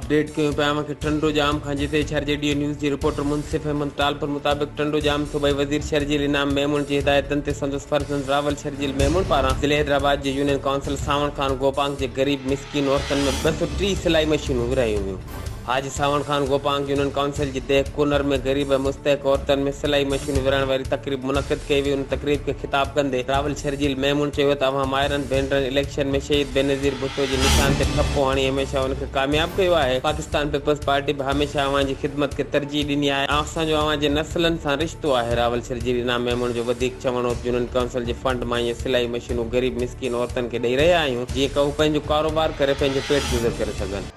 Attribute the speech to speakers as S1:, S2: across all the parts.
S1: Update ڪيون پيا اوهان کي ٽنڊو ڄام کان جتي شھر جي ڊيو نيوز جي رپورٽر منصف احمد ٽالپر مطابق ٽنڊو ڄام صوبائي وزير شرجيل انعام ميمڻ جي هدايتن تي سندس فرزند راول شرجيل ميمڻ پاران ضلعي حيدرآباد جي يونين ڪائونسل سانوڻ خان گوپانگ جي غريب مسڪين عورتن ۾ ٻه سؤ ٽي سلائي مشينون ورهايون ويون حاجي ساوڻ خان گوپانگ يونين ڪائونسل جي ديهه ڪونر ۾ غريب ۽ مستحق عورتن ۾ سلائي مشينون ورهائڻ واري تقريب منعقد ڪئي وئي ان تقريب کي خطاب ڪندي راول شرجيل ميمڻ چيو ته اوهان مائرن ڀينرن اليڪشن ۾ شهيد بينظير ڀٽو جي نشان تي ٺپو هڻي هميشه ان کي ڪامياب ڪيو آهي پاڪستان پيپلز پارٽي به هميشه اوهان جي خدمت کي ترجيح ڏني آهي ۽ اسان جو اوهان جي نسلن سان رشتو آهي راول شرجيل انعام ميمڻ جو وڌيڪ چوڻ هو ته يونين ڪائونسل جي فنڊ مان اهي سلائي مشينون غريب مسڪين عورتن کي ڏئي رهيا آهيون جيئن ڪه هو پنهنجو ڪاروبار ڪري پنهنجو پيٽ گذر ڪري سگهن.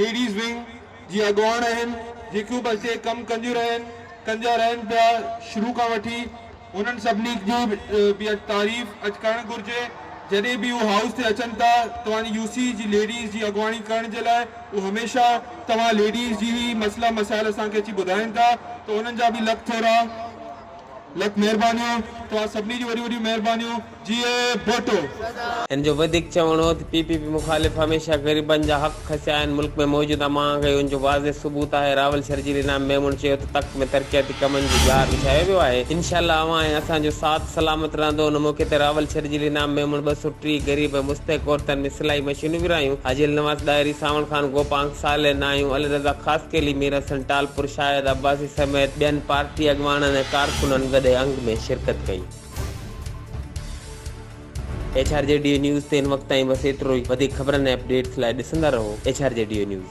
S2: ليڊيز ونگ جي اڳواڻ آهن جيڪيون به اتي ڪم ڪنديون رهن ڪندا رهن پيا شروع کان وٺي انهن سڀني جي به تعريف اڄ ڪرڻ گهرجي جڏهن به هو هائوس تي اچن ٿا توهان يو سي جي ليڊيز جي اڳواڻي ڪرڻ جي لاء هو هميشه توهان ليڊيز جي هي مسئلا مسائل اسان کي اچي ٻڌائين ٿا ته انهن جا به لک ٿورا لک مهربانيون توهان سڀني جون وڏيون وڏيون مهربانيون. جيئي ڀٽو. هن جو
S1: وڌيڪ چوڻ هو ته پي پي پي مخالف هميشه غريبن جا حق کسيا آهن، ملڪ ۾ موجود امان کي ان جو واضح ثبوت آهي، راول شرجيل انعام ميمڻ چيو ته تخت ۾ ترقياتي ڪمن جو جار وڇايو ويو آهي، انشاء الله اوهان ۽ اسان جو ساٿ سلامت رهندو، ان موقعي تي راول شرجيل انعام ميمڻ ٻه سؤ ٽيهه غريب ۽ مستحق عورتن ۾ سلائي مشينون ورهايون، حاجي النواز ڏاهري، سانوڻ خان گوپانگ، صالح ناهيون، علي رضا خاصخيلي، مير حسن ٽالپر، شاهد عباسي سميت ٻين پارٽي اڳواڻن ۽ ڪارڪنن وڏي انگ ۾ شرڪت ڪئي. H R G Dew news تي هن وقت تائين بس ايترو ئي وڌيڪ خبرن ۽ اپڊيٽس لاء ڏسندا رهو H R G Dew news.